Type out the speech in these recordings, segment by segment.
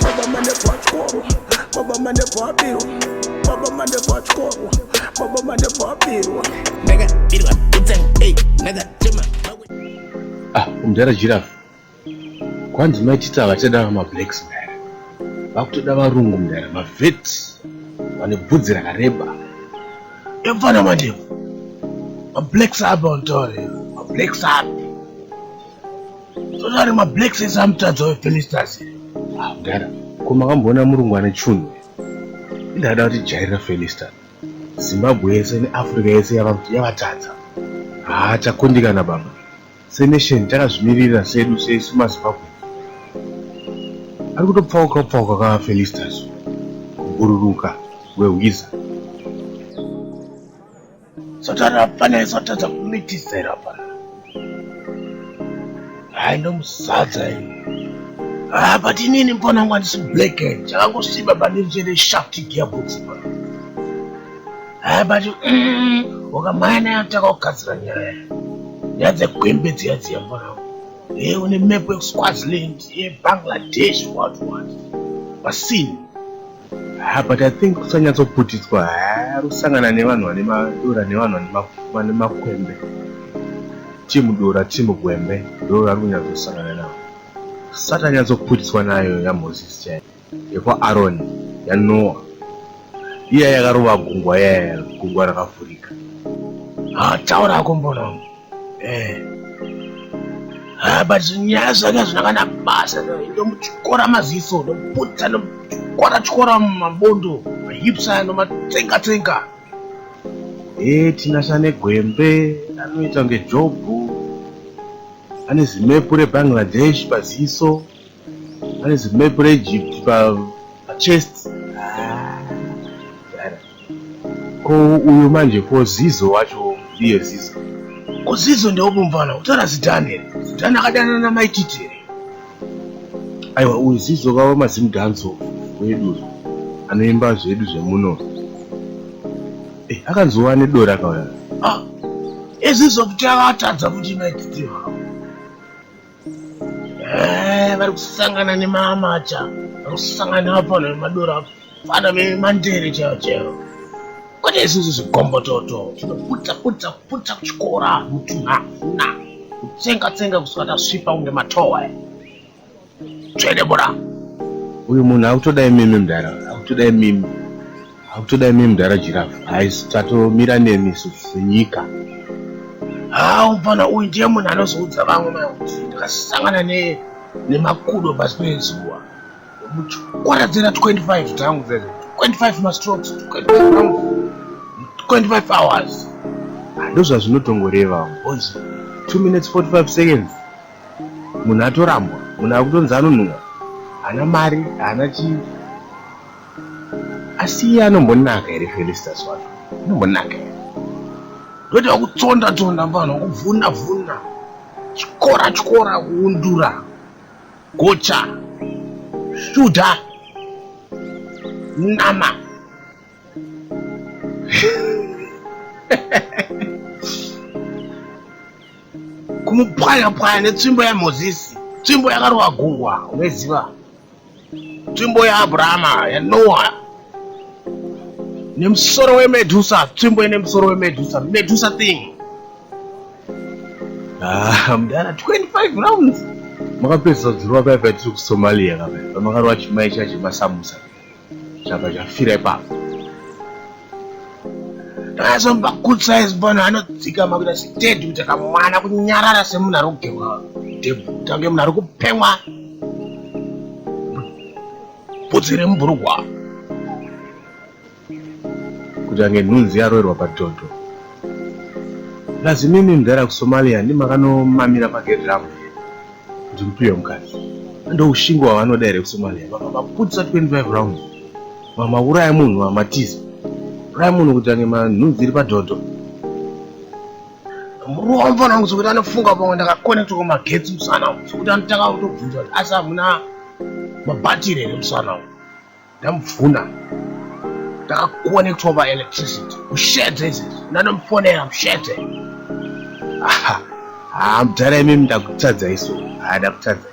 Baba mane pachikoro, baba mane pabirwa, baba mane pachikoro, baba mane pabirwa. Ndakabirwa kutsang, hey, ndakachema. Ah, umdara giraffe. Kwanzi maitita vachada ma blacks mdara. Vakutoda varungu mdara, ma vet. Vane bvudzi rakareba. Yamfana manje. Ma blacks apa mtaure. Ma blacks apa. Sozari ma black sense amutadza we Felicitas. Ah, mdara, ko makamboona murungu ane chunhu? Ndada kuti jairira Felicitas. Zimbabwe yese ne Africa yese yava kuti yavatadza. Haa takundikana baba. Se nation takazvimirira sedu sesu ma Zimbabwe. Ari kutopfauka pfauka ka Felicitas. Kubururuka we Wiza. Satani afanira satadza kumitisera pano. Hayi ndomusadza iyi. Ah, but inini mbona ngo handisi black and chakangosimba pandiri chete shaft gearbox pano. Hayi but mm, wakamaya naye ataka kugadzira nyaya. Nyaya dzegwembe dziya dziya mbona. Hey, eh, une map yekuswaziland, ye eh, Bangladesh, what what. Basini. Ha, but I think kusanyatsoputidzwa harusangana nevanhu vane madora nevanhu vane makwembe. Timu dora, timu gwembe, ndoo vari kunyatsosangana navo. Sati anyatsoputidzwa nayo yaMoses chaiyo, yekwaAroni, yaNoa, iya yakarova gungwa, yaya gungwa rakavhurika. Ha, taura akombono. Eh. Ah, but nyaya zvange hazvina kana basa ndomutyora maziso ndomuputsa ndomutyora tyora mabondo mahips aya ndomatsenga tsenga ee eh, tinasa negwembe anoita kunge jobhu ane zimepu rebangladesh paziso Hanzi map reEgypt pachest. Ah, ko uyu manje ko Zizo wacho ndiye Zizo. Ko Zizo ndiwo mumvana kutaura zidhani here? Zidhani akadanana namai Titi here? Aiwa uyu Zizo vava mazimu danzo wedu anoimba zvedu zvemuno. Eh, akanzova nedora akauya. Ah, Zizo kuti avatadza kuti mai Titi vavo. Eh, vari kusangana nemamacha vari kusangana vapana vemadora vana vemandere chaivo chaivo kwete isusu zvigombototo tinoputsa putsa putsa kuchikora mutunha na kutsenga tsenga kusvika tasvipa kunge matowa tsvede bora uyu munhu akutoda imimi mdara akutoda imimi Hakutoda imi mudhara Giraffe. Hais tatomira nemi isu senyika. Haa mfana uyu ndiye munhu anozoudza vamwe mai kuti ndakasangana ne nemakudo pasi pezuva. Muchikwaradzira 25 tangu zvezvo. 25 mastrokes, 25 rounds, 25 hours. Ndozvazvinotongoreva boys. 2 minutes 45 seconds. Munhu atorambwa, munhu akutonzi anonhuwa. Haana mari, haana chii. asi iye anombonaka here felistas wacho anombonaka here ndoita wakutsonda tsonda mvana wakubvuna bvuna chikora chikora kuundura gocha shuda nama kumupwanya pwanya netsvimbo yamozisi tsvimbo yakarova gungwa unoziva Tsvimbo yaAbrahama yaNoa nemusoro weMedusa, tsvimbo ine musoro weMedusa, Medusa thing. Ah, mdara 25 rounds makapedza dzirwa paya paya tiri kusomalia kape pamakarwa chimai chacho masamusa chapa chafira ipapo Azomba good size pano anodzika makuita sitedi kuti akamwana kunyarara semunhu ari kugerwa debuta kunge munhu ari kupemwa bvudzi remubhurugwa kuti ange nhunzi yaroerwa padondo lazimimi mdara kusomalia ndimakanomamira pageri ravo kuti mupiwe mukadzi ndoushingo hwavanoda here kusomalia vakabaputisa 25 rounds Mama uraya munhu wamatiza. Uraya munhu kuti ange manhunzi iri padhodho. Muruwa mfana wangu sokuti anofunga pamwe ndakakonekta kumagetsi musana wangu sokuti anotanga kutobvunza kuti asi hamuna mabhatiri here musana wangu. Ndamubvuna. Ndakakonektwa paelectricity. Mushedze izvezvi. Ndanomufonera mushedze. Aha. Haa mudhara imimi ndakutadzai so. Haa ndakutadzai.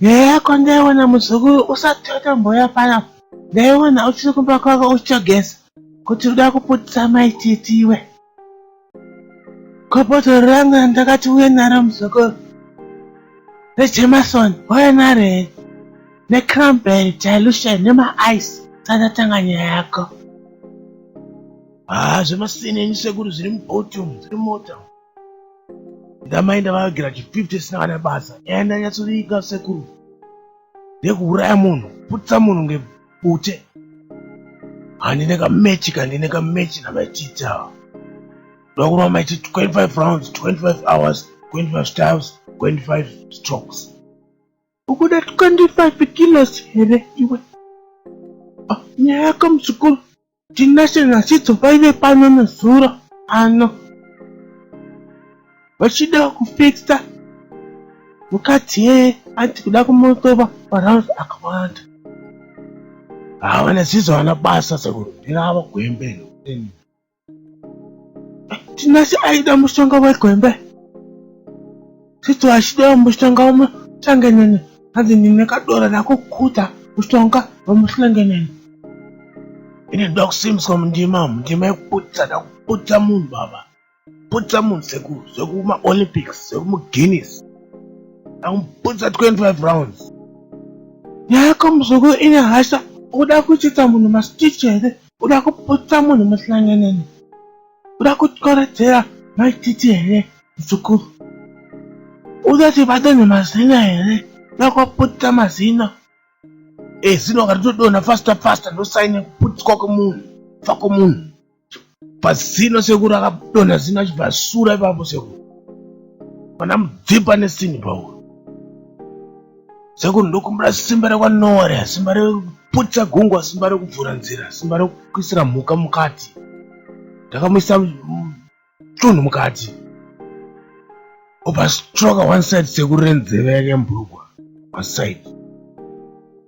Nyaya yako ndaiona muzukuru usati watomboya pano. Ndaiona uchiri kumba kwako uchitogeza kuti uda kuputisa mai titi iwe. Kopotoro rangu randakati uye naro muzukuru. ReJameson wauya naro here? Necranberry dilution nemaice sandatanga nyaya yako. Haa zvemasini enyu sekuru zviri mubhoti umu zviri mota umu. ndamai ndavagira chi 50 isina kana basa nyaya ndanyatsoviika sekuru ndekuuraya munhu putisa munhu ngebute handine kamechi kandine kamechi namaititi ava ndoda kurova maiti 25 rounds 25 hours 25 styles 25 strokes ukuda 25 kilos here iwe ah, nyaya yako muzukuru Tinashe naChidzo vaive pano nezuro ano vachida kufixa mukadzi yeye ati kuda kumotova marauns akawanda hava naChidzo vana basa sekuru ndirava gwembe Tinashe aida mushonga wegwembe Sisi washida wamushonga wamuhlangenene hanzi ndine kadora nakukuta mushonga wamuhlangenene ine ndoda kusimbiswa mundima mundima yekuputsa nda kuputsa munhu baba putsa munhu sekuru zvekumaolympics zvekumuguinness akumuputsa 25 rounds nyaya yako muzuku ine hasha uda kuchitsa munhu mastich here uda kuputsa munhu muhlangenene uda kutyoredzera maititi here Mzukuru, uda tibate nemazino here? Nakwaputita mazino. E, zino ngatitodonha faster faster ndosaine kuputitwa kwemunhu. Fa kwemunhu. Pazino sekuru akadonha zino achibva sura ipapo sekuru. Pana mudzipa nesini pauro. Sekuru ndokumbira simba rekwanowa reya, simba rekuputisa gungwa, simba rekuvhura nzira, simba rekuisira mhuka mukati. Ndakamuisa tunhu mukati obastroka one side sekuru renzeve yake mbrugwa paside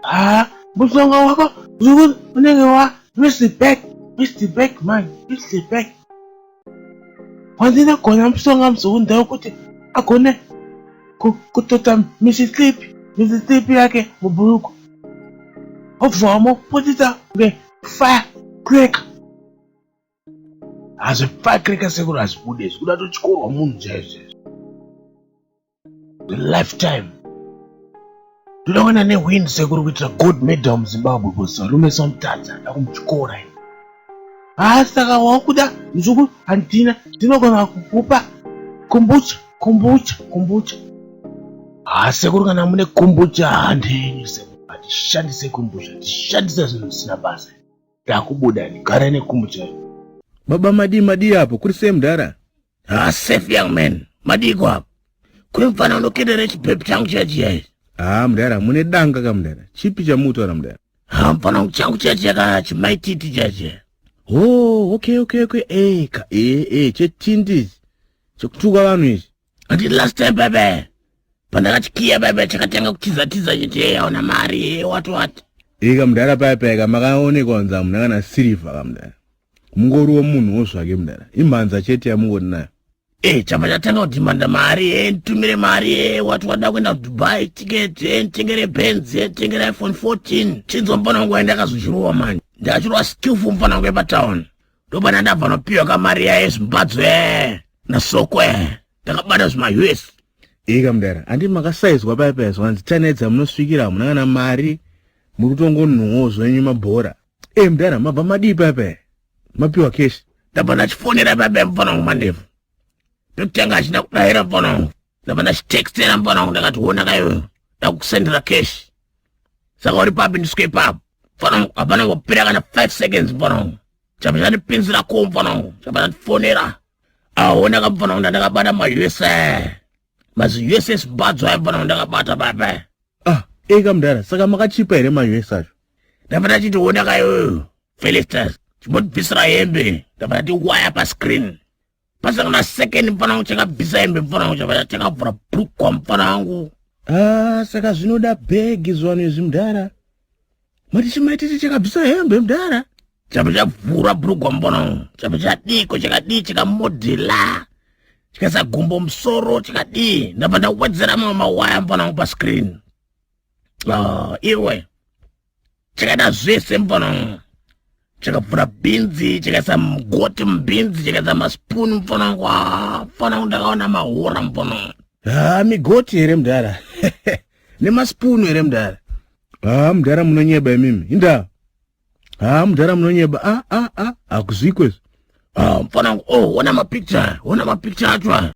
haa mushonga wako zvekuti unenge wa mr back mr back man mr back wandinogona mushonga mzukuru ndava kuti agone kutota misislip misislip yake mubhuruku obva wamoputisa nge fire crack hazvipakiri kasekuru hazvibude zvikuda totyorwa munhu chaizvo lifetime toda kuenda newind sekuru kuitira god medal muzimbabwe bcause varume somutadza da kumutyora i haa saka wakuda nzvuku handina ndinogona kukupa kombucha kombucha kombucha haa sekuru kana mune kombucha handenyu sekuru hatishandise kombucha tishandise zvinhu zvisina basa Ndakubuda ini, gara nekumu chaiyo. Baba madii madii apo, kuri sei mudhara? Ah, safe young man, madiiko apo? Kuri mfana unokedera chipepu changu chachiya ichi. Ah, mudhara, mune danga ka mudhara, chipi chamutaura mudhara? Ah, mfana wangu changu chachiya ka chimaititi chachiya. Oh, okay, okay, okay, eh, ka, eh, eh, chetindi ichi, chekutuka vanhu ichi. ati last time bebe pandakati kiya bebe chakatanga kutizatiza chiti hey hauna mari hey wati wati ika mudhara paya paya ka makaonekwa kunzi hamuna kana sirivha ka mudhara mungoriwo munhu wo zvake mudhara imhanza chete yamungori nayo e chapa chatanga kudhimanda mari e nditumire mari e wati wada kuenda kudubai ticket e nditengere benz e nditengere iphone 14 chinzwa mufana wangu waenda akazozvirowa manje ndakachirova skillful mufana wangu epatown ndopana ndabva nopiwa kamari yaye zvimbadzo e nasoko e ndakabata zvima us ika mudara andi makasaizwa paya paya zvanzi tanedza munosvikira hamuna kana mari muri kutongonhuwo zvenyu mabhora e mudara mabva madii paya paya mapiwa keshi ndabva ndachifonera paya paya mufana wangu mandevu ndotanga achida kudahira mufana wangu ndabva ndachitextera mufana wangu ndakati wona kayoyo ndakusendera cash saka uri papi ndiswe ipapo mufana wangu hapana kupera kana five seconds mufana wangu chapa chandipinzira ko mufana wangu chapa chandifonera ahona ka mufana wangu ndandakabata mausa maziuss badzo aya mufana wangu ndakabata baba ah eka mudhara saka makachipa here mausa acho ndabva ndachiti wona kayoyo felistas chimotibvisira hembe ndabva ndati waya pascreen pasaka na second mfana wangu chakabvisa hembe mfana wangu chabaya chakavhura brukwa mfana wangu ah, saka zvinoda bhegi zvivanhu izvi mdara mati chimaititi chakabvisa hembe mdara chapa chavhura brukwa mfana wangu chapa chadiko chakadii chikamodhela chikaisa gumbo musoro chikadii ndabva ndawedzera mamwe mawaya mfana wangu pascreen ah, iwe chakaita zvese mfanangu chakavhura bhinzi chakaisa mugoti mubhinzi chakaisa maspuni mfanangu ah, mfanangu ndakaona mahora mfanangu ha ah, migoti here mdara nemaspunu here mdara ha ah, mdara munonyeba imimi indaa ha mudhara munonyeba a a a hakuzwiko izvo ah, mfana wangu oh wona mapicture wona mapicture acho ha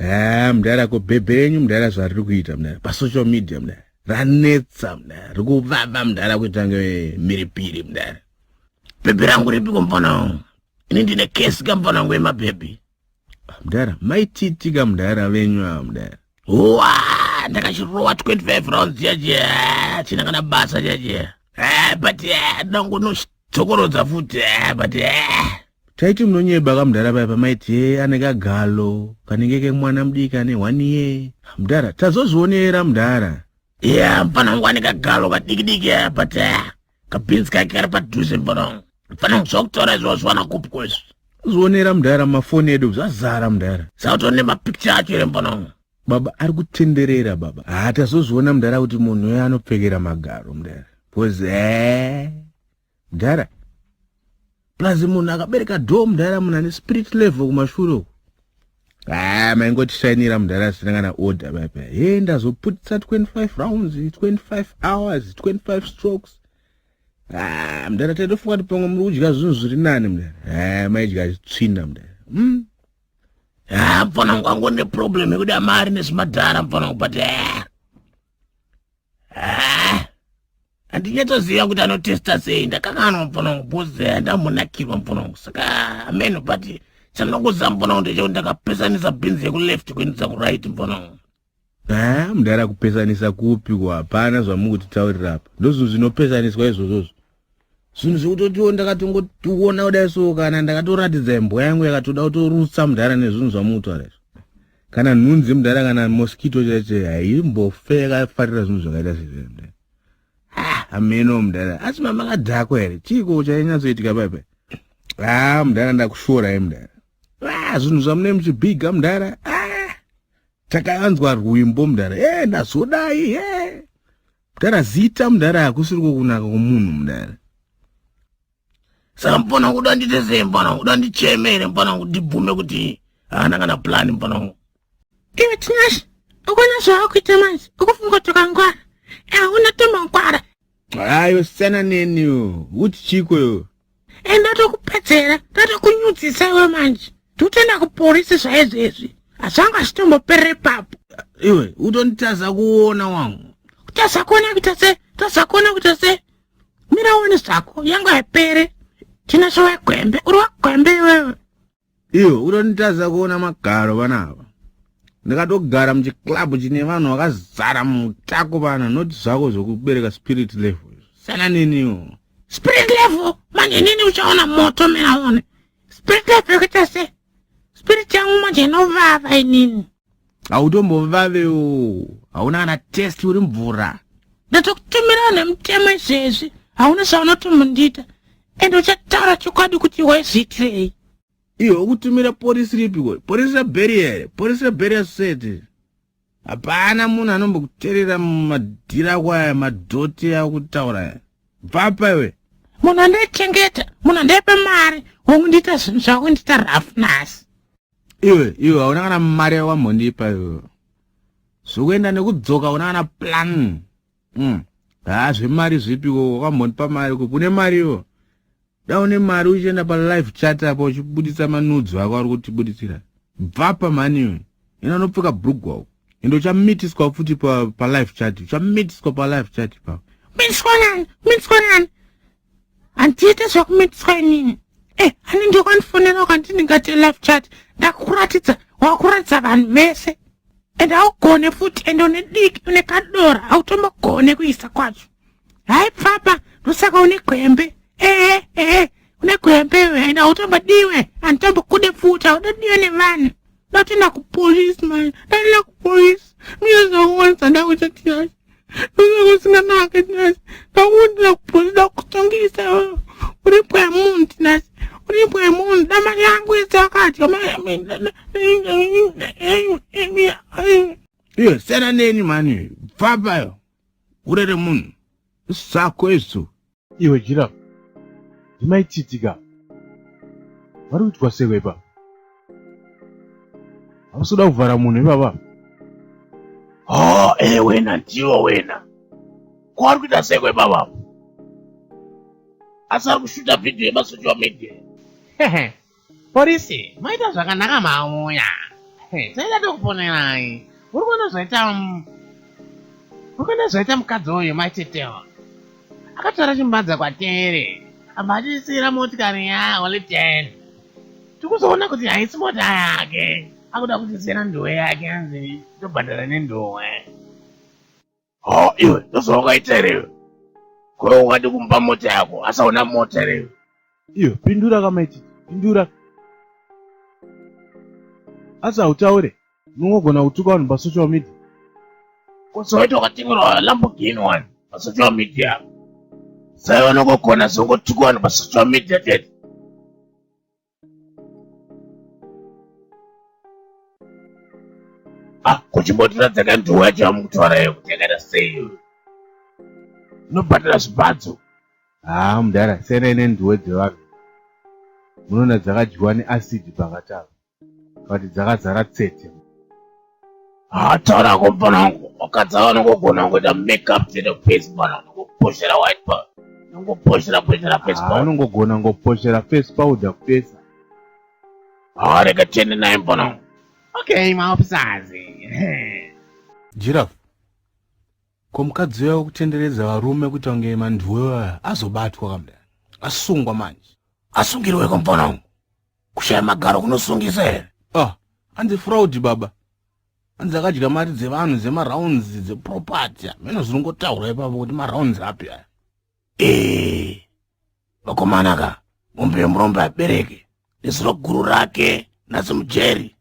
ah, mudhara ko bhebhe renyu mudhara zvariri kuita mudhara pasocial media mudhara ranetsa mdara rikuvava mdara kuita nge mhiripiri mdara bhebhi rangu ripiko mfana wangu ini ndine kesi ka mfana wangu yemabhebhi mdara maititi ka mdara venyu ava mdara huwa ndakachirowa 25 rounds chaje china kana basa chaje but ndangonochi dzokorodza futi eh, but eh, Taiti munonyeba kamudhara paya pamaiti ye ane kagalo kanenge kemwana mudiki ane one year. Mudhara, tazozvionera mudhara. Yeah, mfana wangu ane kagalo kadikidiki aya but uh, kabhinzi kake kari padhuze mfana wangu. Mfana wangu zvakutora izvo zvawana kupi kwezvi. Zvionera mudhara mafoni edu zvazara mudhara. Sauto nemapicture acho ere mfana wangu. Baba ari kutenderera baba. Ah, tazozviona mudhara kuti munhu uyo anopfekera magaro mudhara. Because eh mdara plus munhu akabereka do mdara munhu ane spirit level kumashure uku haa ah, maingotishainira mdara asina kana order vaipa he ndazoputisa 25 rounds 25 hours 25 strokes haa ah, mdara taitofunga kuti pamwe muri kudya zvinhu zviri nani mdara haa ah, maidya zvitsvina mdara hmm? haa mfanangu ango neproblem yekuda mari nezvimadhara mfanangu but haa ah, handinyatsoziva kuti anotesta sei ndakanganwa mupona wangu bcause eh, ndamunakirwa mupona wangu saka ameno but chandokuziva mupona wangu ndechekuti ndakapesanisa bhinzi yekuleft kuendesa kuright mupona wangu ha ah, mudara kupesanisa kupi ko hapana zvamukutitaurira apa ndozvinhu zvinopesaniswa izvozvozvo zvinhu zvekutotiwo ndakatongotiona kudai so kana ndakatoratidza imbwa yangu yakatoda kutorutsa mudhara nezvinhu zvamutaura izvo kana nhunzi yemudhara kana moskito chaicho haimbofe yakafarira zvinhu zvakaita sezvemudhara ah, hameno mudhara asi mamakadhakwa here chiiko chainyatsoitika paipa haa ah, mudhara ndakushorai mudhara ah, zvinhu zvamunei muchibhiga mudhara takayanzwa rwimbo mudhara e ndazodai e Mdara zita mdara hakusiriko kunaka kwomunhu mdara. Saka mpona kuda ndiite sei mpona kuda ndicheme here mpona ndibvume kuti haana kana plan mpona uyu. Iwe Tinashe ukona zvaakuita manje ukufunga kuti ukangwara hauna tomangwara. Hayo siyana neni yo. Uti chiko yo. e ndatokupedzera ndatokunyudzisa iwe manje ndotenda kuporisi zvaizvo izvi hazvanga zvitomboperere papo iwe utonditadza kuona wangu kutadza kuona kuita se tadza kuona kuita se mira uone zvako yangu haipere tina zvowaigwembe uri wagwembe iwewe Iwe unonditadza kuona magaro vana ava. Ndakatogara muchiclub chine vanhu vakazara mutako vana not zvako zvokubereka spirit level. Sana neniwo. Spirit level manje nini uchaona moto mina one. Spirit level yakaita sei? Spirit yangu manje inovava inini. hautombovavewo hauna kana test uri mvura ndatokutumirawo nemutemo izvezvi hauna zvaunotomundiita ende uchataura chokwadi kuti waizviitirei iwe ukutumira porisi ripiko porisi rebheri here porisi rebheri yasosiyete hapana munhu anombokuterera mumadhiri ako aya madhoti akutaura aya bvapa iwe munhu andaichengeta munhu andaipa mari wangundiita zvinhu zvakundiita rafu nhasi iwe iwe hauna kana mari yawambondipa iwe zvokuenda nekudzoka hauna kana plan mm. haa zvemari zvipi wo wakambondipa mari kupi une mari iwo da une mari uchienda palive chat apa uchibuditsa manudzo ako ari kutibuditsira bvapa mhani iwe ina unopfeka brugwa uko ende uchamitiswa futi palive pa chat uchamitiswa palive chat ipapo mitiswa nani mitiswa nani handiite zvekumitiswa inini e eh, ani ndokwandifonera ukanti ndingate life chat ndakukuratidza wakuratidza vanhu vese ende haugone futi ende une diki une kadora hautombogone kuisa kwacho hai pfapa ndosaka une gwembe ehe ehe une gwembe iwe ende hautombodiwe handitombokude futi haudodiwe nevanhu Ndatinda kupolice manje, ndatinda kupolice. Mine zvakuwanisa ndakuita tiyasha. Ndozvakusinganaka tinasha. Ndakundira kupolice ndakutongisa iwewe. Uri pwa munhu tinasha. Uri pwa munhu dama yangu yese akadya iyo siyana neni mani pfapayo urere munhu sako isu Iwe Giraffe, ndimai Tsitsi ka? Vari kuitwa sei vepa? Hausi kuda kuvhara munhu ipapa? Oh, eh wena ndiwo wena. Ko vari kuita sei kwepa vavo? Asi ari kushuta vhidhiyo yemasocial media. Hehe, Porisi, maita zvakanaka mauya. Hey, taida tokuponerai. Uri kuona zvaita Uri kuona zvaita mukadzi uyu maitetewa. Akatora chimbanza kwatere. Abva atisira motikari ya only 10. Tikuzoona kuti haisi mota yake. Akuda kutisira nduwe yake anzi tobhadhara nenduwe. Ho iwe ndozvaungaita here iwe? Ko ungadi kumupa mota yako asi hauna mota here iwe? Iwe pindura kamaiti pindura. Asi hautaure unongogona kutuka vanhu pasocial media. Ko soweto wakatengerwa Lamborghini wani pasocial media? Sai vanongogona zvongotuka vanhu pasocial media chete. Ah, kuchimbotiratidza ka nduu yacho yamukutaura iyo kuti yakaita sei inobhadhara zvibhadzo haa ah, mudhara siyana ine nduwe dzevanhu munoona dzakadyiwa neacid pakatava kati dzakazara tsete Hata rako mfana wangu wakadzi ava vanongogona kungoita makeup chete face mfana unongoposhera white powder unongoposhera poshera face powder anongogona ngoposhera face powder kupesa haa rega tiende naye mfana wangu okay maofficers giraffe ko mukadzi uya wekutenderedza varume kuita kunge manduwe vaya azobatwa kamda asungwa manje asungirweko mfana wangu kushaya magaro kunosungisa here ah hanzi fraud baba hanzi akadya mari dzevanhu dzemarounds dzeproperty hameno zvinongotaura ipapo kuti marounds api aya ee vakomana ka mombe yemurombe abereke nezuro guru rake nasi mujeri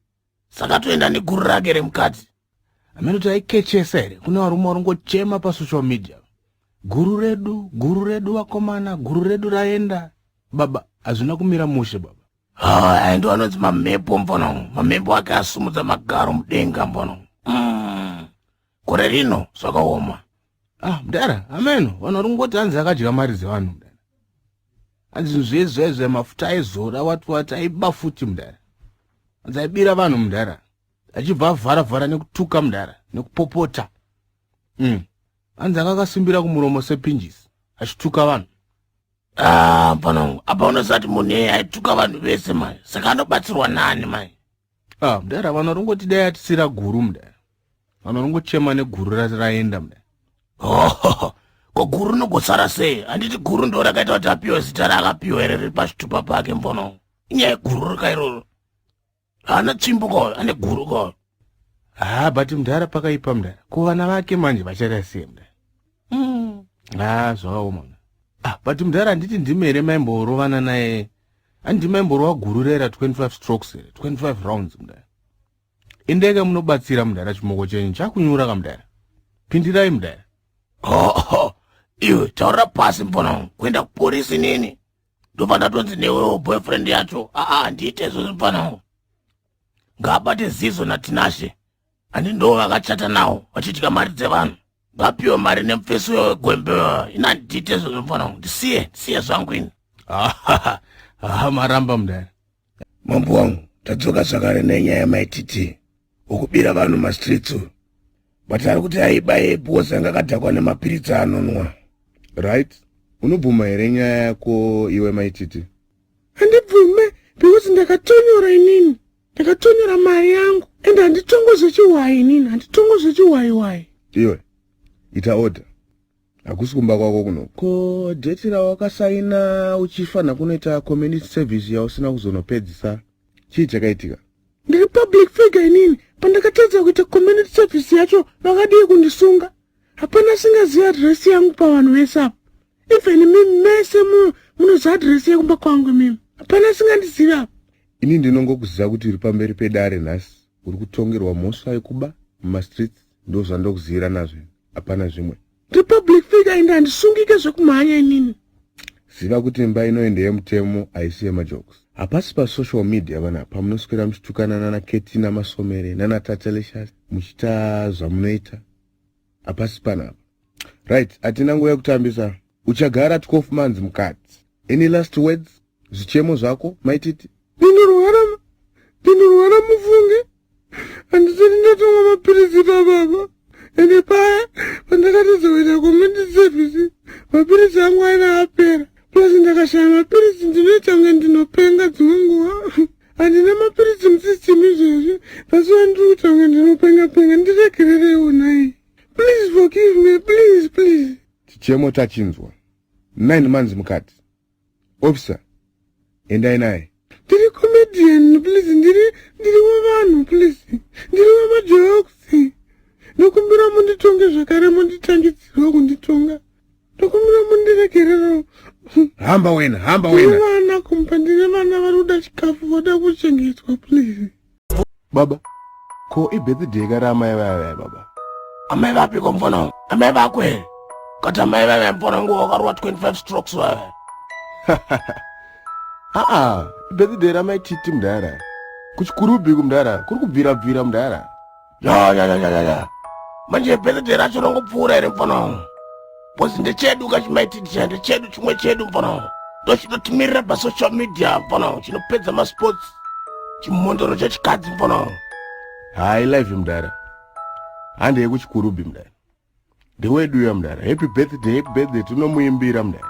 saka toenda neguru rake remukadzi amene kuti aikechesa here kune varume varingochema pasocial media guru redu guru redu vakomana guru redu raenda baba hazvina kumira mushe baba haa ndo anonzi mamhepo mbono mamhepo ake asumudza magaro mudenga mbono mm. gore rino zvakaoma ah mdara ameno vanhu vari kungoti hanzi akadya mari dzevanhu mdara hanzi zvezvezve mafuta aizora wati wati aiba futi mdara hanzi aibira vanhu mdara achibva avhara vhara nekutuka mdara nekupopota mm. hanzi anga akasimbira kumuromo sepinjisi achituka vanhu ah, panangu apa unosati munhu eye aituka vanhu vese mai saka anobatsirwa nani mai Ah, mdara vanhu varingoti dai atisira guru mdara. Vanhu varingochema neguru raenda mdara. Oh, ko guru rinogosara sei? Handiti guru ndo rakaita kuti apiwe zita raakapiwa here riri pachitupa pake mbono. Inyaya yeguru rika iroro. Haana tsvimbo ko, ane guru ko. Ah, but mdara pakaipa mdara. Ko vana vake manje vachaita sei mdara? Mm. Ah, zvakaoma mdara. Ah, but mdara handiti ndimi here maimborovana naye handi maimborova guru rera 25 strokes here 25 rounds mudara endeka munobatsira mudara chimoko chenyu chakunyura ka mudara pindirai mudara hoho iwe taura pasi mfana kuenda kuporisi nini ndobva ndatonzi newewo boyfriend yacho aa handiite izvozvo mfana ngabate zizo natinashe ani ndo vakachata nawo vachidya mari dzevanhu vapiwe mari nemufesi uyo wegwembe ina ndite izvo zvomufana wangu ndisiye ndisiye zvangu ini Ah, ah, maramba mudare mambo wangu tadzoka zvakare nenyaya yamaititi ukubira vanhu mastreets uyu but ari kuti aiba yebhosi anga akadhakwa nemapiritsi anonwa right unobvuma here nyaya yako iwe maititi handibvume because ndakatonyora inini ndakatonyora mari yangu and handitongo zvechiwayi inini handitongo zvechiwayiwayi iwe ita order hakusi kumba kwako kuno ko deti rawakasaina uchifanha kunoita community service yausina kuzonopedzisa chii chakaitika ndiri public figure inini pandakatadza kuita community service yacho vakadii kundisunga hapana singaziva adresi yangu pavanhu vese apa even mimi mese muno munoziva adresi yekumba kwangu mimi hapana singandizivi apa Ini ndinongokuziva kuti uri pamberi pedare nhasi uri kutongerwa mhosva yekuba mumastreets ndozvandokuzivira nazvo hapana zvimwe republic figure ende handisungike zvekumhanya inini ziva kuti imba ino ende yemutemo haisi yemajokes hapasi pasocial media vana pamunoswera muchitukana nana keti namasomere nana tatelicious muchiita zvamunoita hapasi panapa right hatina nguva yekutambisa uchagara 12 months mukadzi any last words zvichemo zvako maititi ndinorwara ndinorwara mufunge handisati ndatomwa mapiritsi pababa ende paya pandakatizoita community service mapiritsi angu aina apera plus ndakashaya mapiritsi ndinoita kunge ndinopenga dzimwe nguva handina mapiritsi musystem izvezvi pasuva ndiri kuita kunge ndinopenga penga ndiregerereiwo nai please forgive me please please Chichemo tachinzwa. Nine months mukati. Officer, endai naye. Ndiri comedian, please. Ndiri, ndiri wevanhu, please. Ndiri wemajokes. Ndokumbira munditonge zvakare munditangidzirwa kunditonga. Ndokumbira mundiregerero. Hamba wena, hamba wena. Ndiri vana kumba, ndiri vana vari kuda chikafu, voda kuchengetwa, please. Baba, ko ibirthday ka ramai vaya vaya baba? Amai vapi ko mfana? Amai vako here? Kati amai vaya vaya mfana ngo wakarwa 25 strokes vaya. Aa, ibirthday ramai titi mdara. Kuchikurubi kumdara, kuri kubvira bvira mdara. ya ya ya ya ya manje birthday racho rongopfuura here mfana wangu bcause ndechedu kachimaitidisha ndechedu chimwe chedu mfana wangu ndochinotimirira pasocial media mfana wangu chinopedza masports chimhondoro chechikadzi mfana wangu hayi live mdara handeye kuchikurubi mdara Ndewedu uya mdara. Happy birthday, happy birthday tinomuimbira mdara.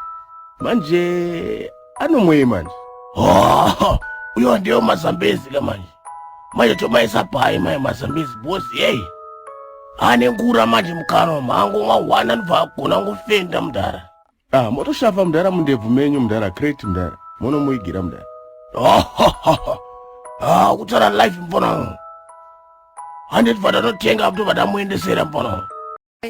Manje anomwei manje? Oh, uyo ndiyo mazambezi ka manje. Manje tomaisa pai mai mazambezi bozi hey. Ane ngura manje mukano mangu mwa wana ndva kona ngufenda mdara. Ah, motoshava mdara mundebvu menyu mdara crate mdara monomuigira mdara ah, kutara life mfono handiti vadanotenga apto vadamuendesera mfono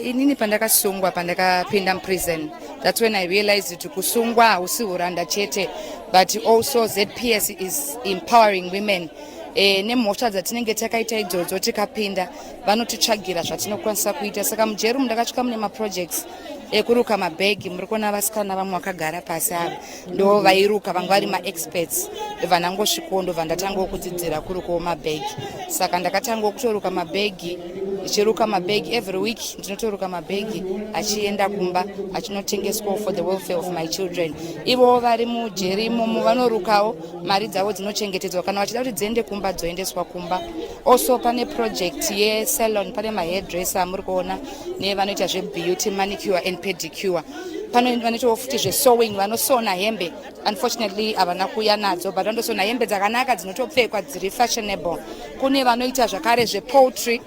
inini pandakasungwa pandakapinda muprison thats when i realized kuti kusungwa hausi huranda chete but also zps is empowering women e, nemhosva dzatinenge takaita idzodzo tikapinda vanotitsvagira zvatinokwanisa kuita saka mujeri umu ndakasvika mune maprojects ekuruka mabhegi muri kuona vasikana vamwe vakagara pasi ava ndo vairuka vanga vari maexperts ndovanangosvikowo ndobva ndatangawo kudzidzira kurukawo mabhegi saka ndakatangawo kutoruka mabhegi ndichiruka mabhegi every week ndinotoruka mabhegi achienda kumba achinotengeswawo for the welfare of my children ivowo vari mujeri imomo vanorukawo mari dzavo dzinochengetedzwa kana vachida kuti dziende kumba dzoendeswa kumba also pane project yesalon pane mahairdresser amuri kuona nevanoita zvebeauty manicure and pedicure pano vanoitawo futi zvesowing vanosona hembe unfortunately havana kuuya nadzo but vanotosona hembe dzakanaka dzinotopfekwa dziri fashionable kune vanoita zvakare zvepoultry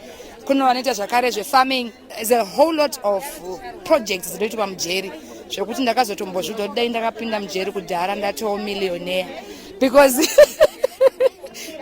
kune vanoita zvakare zvefarming is a whole lot of projects dzinoitwa mujeri zvekuti ndakazotombozviudza kuti dai ndakapinda mujeri kudhara ndatowo millionaire because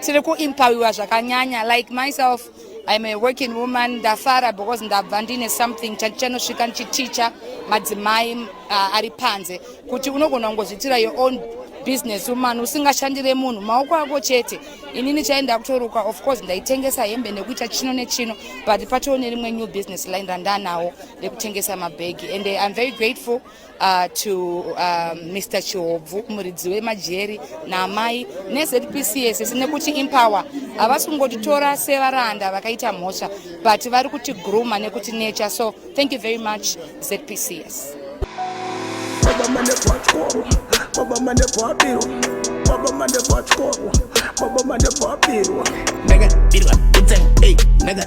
tiri kuimpawiwa zvakanyanya like myself I'm a working woman ndafara because ndabva ndine something chanosvika ndichiticha madzimai uh, ari panze kuti unogona kungozvitira your own business woman usingashandire munhu maoko ako chete inini chaenda kutoruka of course ndaitengesa hembe nekuita chino nechino but patoo nerimwe new business line randanawo rekutengesa mabhegi and eh, iam very grateful uh, to uh, ah, Mr Chihobvu muridzi wemajeri naamai neZPC yese nekuti Empower havasi kungotitora sevaranda vakaita mhosva but vari kuti gruma nekuti nature so thank you very much ZPCS Baba mane bachkoro, baba mane bapiro, baba mane bachkoro, baba mane bapiro. Naga birwa, it's a hey, naga